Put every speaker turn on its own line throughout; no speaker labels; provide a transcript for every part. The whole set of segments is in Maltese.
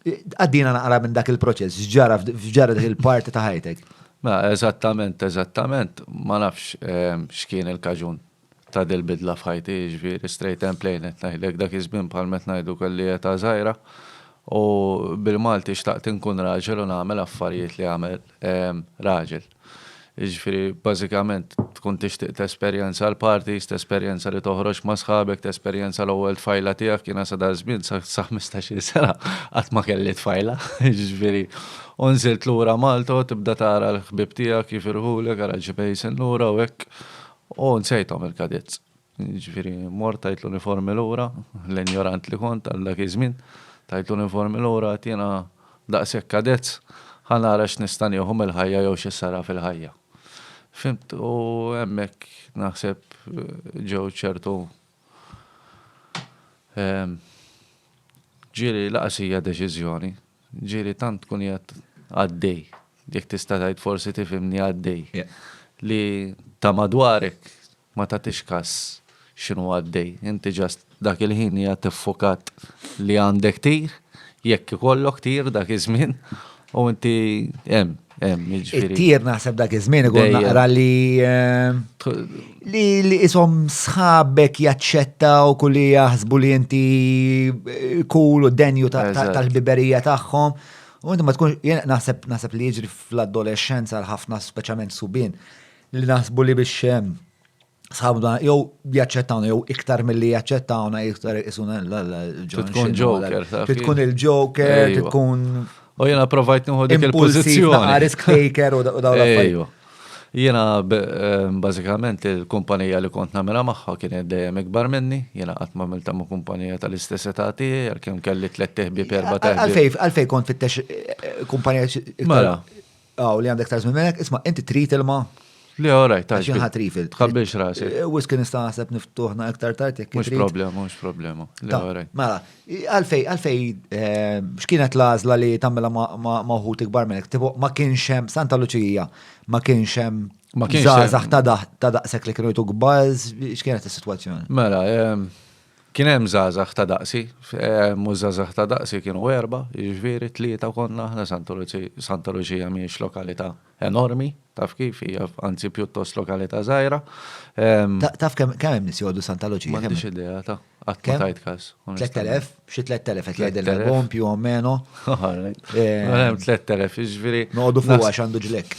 Għaddina naqra minn dak il-proċess, ġara f'ġara dik il-parti ta' ħajtek. Ma, mela, eżattament,
eżattament, ma nafx ehm, x'kien il-kaġun ta' dil-bidla f'ħajti, ġviri, straight and plain, qed ngħidlek dak iż-żmien bħal met ngħidu kelli ta' żgħira. U bil-Malti xtaqt inkun raġel u nagħmel affarijiet li għamel ehm, raġel. Jiġifieri bażikament tkun tixtieq tesperjenza l-parties, tesperjenza li toħroġ ma' sħabek, tesperjenza l-ewwel tfajla tiegħek, jiena sa dak żmien sa sa ħmistax-il sena qatt ma kelli tfajla, jiġifieri u nżilt lura Malta u tibda tara l-ħbieb tiegħek jifirħulek ara ġieb Hazen lura u hekk u nsejthom il-cadets. Jiġifieri mort tajt l-uniformi lura, l-injorant li kont għal dak iż-żmien, tajt l-uniformi lura għad jiena daqshekk kadezz, ħa nara x'nista' nieħu mill-ħajja jew xi sara fil-ħajja. Fhimt u hemmhekk naħseb ġew ċertu ġieli laqas hija deċiżjoni. Ġieli tant tkun qiegħed għaddej, jekk tista' tgħid forsi tifhimni għaddej, li ta' madwarek ma tagħtix kas x'inhu għaddej. Inti just dak il-ħin qiegħed iffukat li għandek tir, jekk ikollok tir dak iż-żmien, u inti hemm. It-tir naħseb dak
iż-żmien ikun naqra li li li isom sħabek jaċċettaw kulli jaħsbu li inti kul u denju tal-biberija tagħhom. U inti ma tkun naħseb naħseb li jiġri fl-adolescenza l-ħafna speċjalment subin li naħsbu li biex sħabna jew jaċċettawna jew iktar milli jaċċettawna iktar isuna l-ġon. Tkun
ġoker. Tkun il-ġoker,
tkun. U jena provajt
nħu dik il-pozizjoni. Risk taker u
daw l Jena
eh, bażikament il-kumpanija li kont namela magħha kienet dejjem ikbar minni, jena qatt ma milta ma' kumpanija tal-istess età tiegħi, għalkemm kelli tliet teħbi perba teħbi. Għalfej, għalfej kont fittex eh,
kumpanija. Mela,
Aw, li għandek
tażmi melek, isma' inti trid ilma? Le, all right,
tax. Xi ħadd rifil.
Tħabbiex rasek. Eh,
Wis kien nista' naħseb
niftuħna iktar tard jekk Mhux problema, mhux problema.
Le, all right. Mela, għalfej,
għalfej, eh, x'kienet l-għażla li tagħmilha ma' wħud ikbar minnek? Tipo, ma kienx hemm Santa Luċija, ma kienx hemm Ma kienx hemm- żgħażagħ ta' daħ- ta' daqshekk li kienu jtu kbar, x'kienet is-sitwazzjoni? Mela, em,
Kien hemm żgħażagħ ta' daqsi, mhux żgħażagħ ta' daqsi kienu erbgħa, jiġifieri tlieta konna aħna Santa Luċi, Santa Luċija mhijiex lokalità enormi, taf kif, hija anzi pjuttost lokalità żgħira.
Taf kemm hemm nies jgħoddu Santa Luċija? M'għandix idea, ta,
qatt ma tajt każ. 3,000? Xi
3,000 qed jgħidilna l-bogħom più o meno.
Hemm 3,000, jiġifieri. Noqogħdu fuqha għax għandu
ġlekk.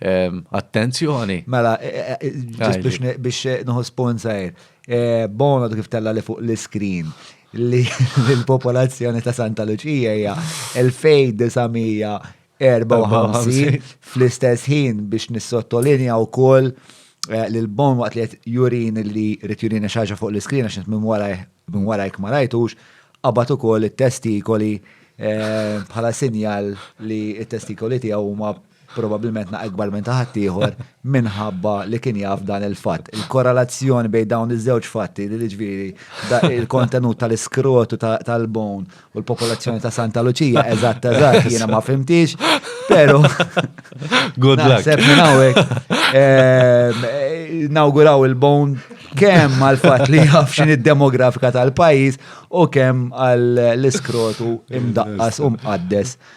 Attenzjoni. Mela,
ġust biex nħu sponsor, Bono kif tella li fuq l-iskrin li l-popolazzjoni ta' Santa Lucia hija 2954 fl-istess ħin biex nissottolinja wkoll eh, li l-bon waqt li qed jurin li rid jurin xaġa fuq l-iskrin għax minn wara minn wara jekk ma rajtux qabad ukoll it-testikoli eh, bħala sinjal li t-testikoli tiegħu huma probabbilment na' ikbar minn ta' ħaddieħor, minħabba li kien jaf dan il-fatt. Il-korrelazzjoni bejn dawn iż-żewġ fatti, li jiġifieri il-kontenut tal-iskrotu tal-bone u l-popolazzjoni ta' Santa Luċija, eżatt eżatt, jiena ma fimtix, però.
Good luck. Naħseb minn hawnhekk.
Nawguraw il-bone kemm għal fatt li jaf x'inhi d-demografika tal-pajjiż u kemm għall-iskrotu imdaqqas u mqaddes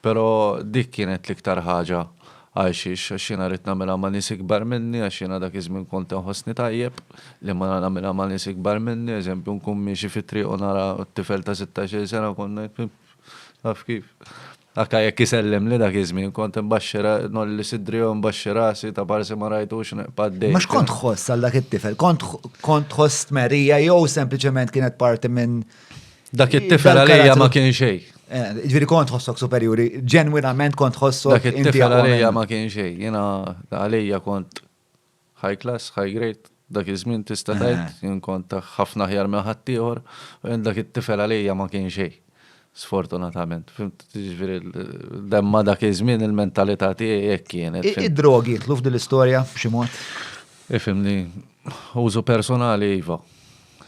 Pero' dik kienet l-iktar ħaġa għalxiex, għax jiena ridt nagħmilha ma' nies ikbar minni, għax jiena dak iż-żmien kont inħossni tajjeb li ma nagħmilha ma' nies ikbar minni, eżempju nkun miexi fit-triq u nara tifel ta' sittax-il sena kont ngħid pip, taf kif. Anke jekk isellimli dak iż-żmien kont inbaxxi ra, ngħolli sidri jew inbaxxi rasi ta' parsi ma rajtux nibqa' għaddej. Imma x'kont tħoss għal
dak it-tifel? Kont tħoss tmerrija jew sempliċement kienet parti minn Dak it-tifel
għalija ma kien xejn. Eh, ġviri kont
ħossok superjuri, ġenwinament kont ħossok. Dak it-tifel għalija
ma kien xejn, jena għalija kont high class, high grade, dak iż-żmien tista' tgħid, eh. jien kont ħafna ħjar minn ħaddieħor, u dak it-tifel għalija ma kien xejn. Sfortunatament, fimt ġviri demma dak iż-żmien il-mentalità tiegħi hekk kienet. Id-drogi jitlu f'dil
istorja b'xi mod? Ifimni,
użu personali iva.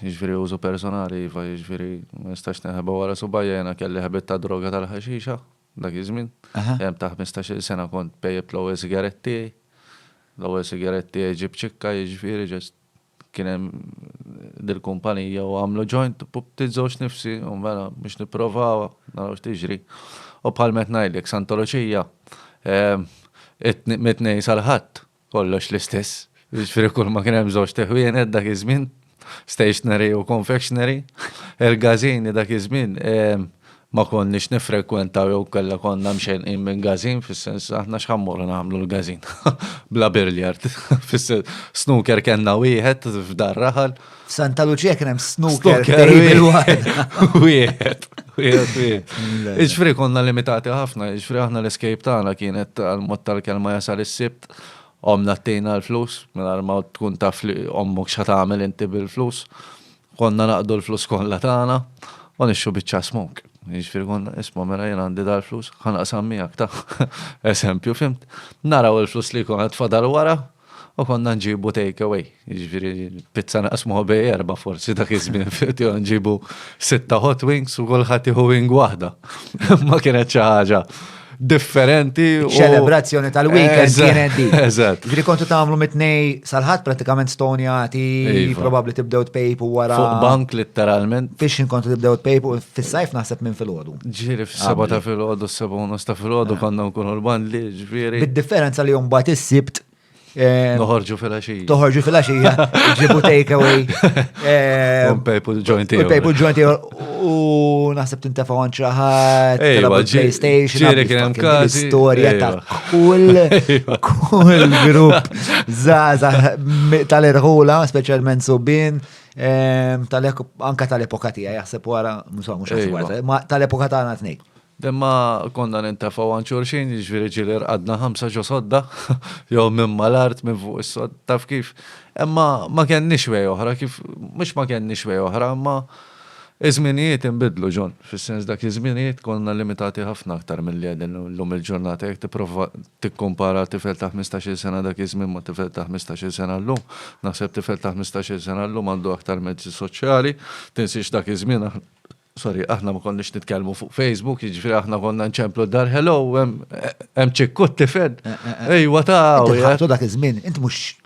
Jiġifieri użu personali iva, jiġifieri ma nistax neħeba wara subajja jiena kelli ħabiet ta' droga tal-ħaxixa dak iż-żmien. Għemm ta' ħmistax-il sena kont pejjibt l-ewwel sigarett tiegħi. L-ewwel sigarett tiegħi ġie b'ċikka jiġifieri ġast kien hemm dil-kumpanija u għamlu ġojnt u bdiet żewġ nifsi u mela biex nipprovawha naraw x'tiġri. U bħalma qed ngħidlek Santa Luċija mit-Tnejn sal-Ħadd Kollox l-istess. Jiġifieri kulma kien hemm żewġt iħwienet dak iż-żmien, stationery u confectionery. Il-gażini dak iż-żmien ma konniex niffrekwentaw jew inkella konna mxennqin minn gażin fis-sens aħna x'ħa mmorru nagħmlu l-gażin bla billiard. Fis-sens, snooker kellna wieħed f'dar raħal. F'Santa Lucia kien
hemm snooker wieħed.
Iġfri konna limitati ħafna, iġfri aħna l-escape tagħna kienet għal-mod tal-kelma jasal is-sibt, omna t-tejna l-flus, mela ma tkun taf li ommok xa tagħmel inti bil-flus. Konna naqdu l-flus kollha tagħna u nixxu biċċa smok. Iġfri konna isma' mela jien għandi dal-flus, ħanaqsam miegħek ta' eżempju fimt. Naraw il-flus li konna tfadal wara, U konna nġibu take away, jiġifieri pizza naqsmuha bej erba' forsi dak iż-żmien jew nġibu sitta hot wings u kulħadd jieħu wing waħda. Ma kienet xi ħaġa differenti. Ċelebrazzjoni
tal-weekend kienet di. Eżatt. Ġifieri kontu tagħmlu
mitnej
sal-ħadd pratikament stonjati, iva. probabbli tibdew tpejpu wara. Fuq bank litteralment.
Fix kontu tibdew
tpejpu fis-sajf naħseb minn filgħodu. Ġieri fis-seba' ta'
filgħodu, s-seba' u nofs ta' filgħodu eh. konna nkunu l-bandli Bid-differenza li mbagħad
is-sibt eh, Noħorġu
fil-axija. Toħorġu fil-axija,
ġibu takeaway. Eh, un
pejpu ġointi. Un pejpu ġointi
u naħseb tintefa għan ċaħat, PlayStation, ġiri kienem kazi.
Storja ta' kull,
kull grupp zaza tal-irħula, specialment subin. Ehm, tal-epoka tija, jaħseb wara, mux għax wara, tal-epoka ta' għana t-nej. Imma konna
nintefgħu għand xulxin, jiġifieri ġieli rqadna ħamsa ġo sodda, jew minn mal-art, minn fuq is-sodd, taf kif. Imma ma kenniex way oħra kif, mhux ma kenniex way oħra, imma iż-żminijiet inbidlu, John, fis-sens dak iż-żminijiet konna limitati ħafna aktar milli qegħdin llum il-ġurnata. Jekk tipprova tikkumpara tifel ta' ħmistax-il sena dak iż-żmien ma' tifel ta' ħmistax-il sena llum, naħseb tifel ta' ħmistax-il sena llum għandu aktar mezzi soċjali, tinsiex dak iż-żmien aħna Sorry, aħna ma konniex nitkellmu fuq Facebook, jiġifieri aħna konna nċemplu d-dar, hello, hemm ċikkut tifed. Eh, eh, eh. Ejwa ta' Ħabtu dak iż-żmien, int
mhux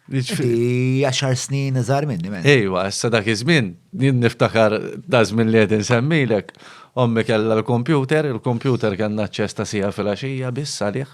Inti għaxar snin iżgħar minni, men. Ejwa, issa dak iż-żmien,
jien niftakar da' żmien li qed insemmilek, ommi kellha l-kompjuter, il-kompjuter kellna ċesta sija fil-għaxija biss għalih.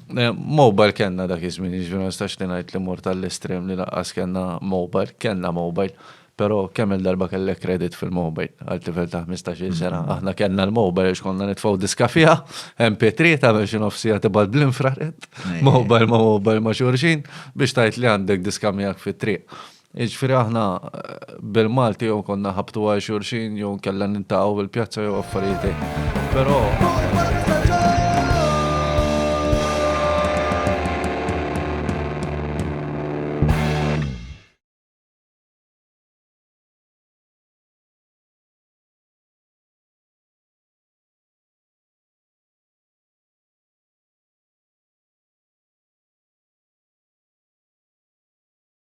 Eh, mobile kellna dak iż-żmien, jiġri ma nistax li ngħid li mort għall-estrem li laqqas kellna mobile, kellna mobile, però kemm il-darba kellek kredit fil-mobile għal tifel ta' 15 sena. Mm-hmm. Aħna kellna l-mobile għax konna nitfgħu diska fiha, MP3 ta' biex nofsija tibgħat bl-infrared, mobile ma' mobile ma' xurxin biex tajt li għandek diska miegħek fit-triq. Jiġifieri aħna bil-Malti jew konna nħabbtu għal xulxin jew inkella niltaqgħu fil-pjazza jew affarijiet hekk. Però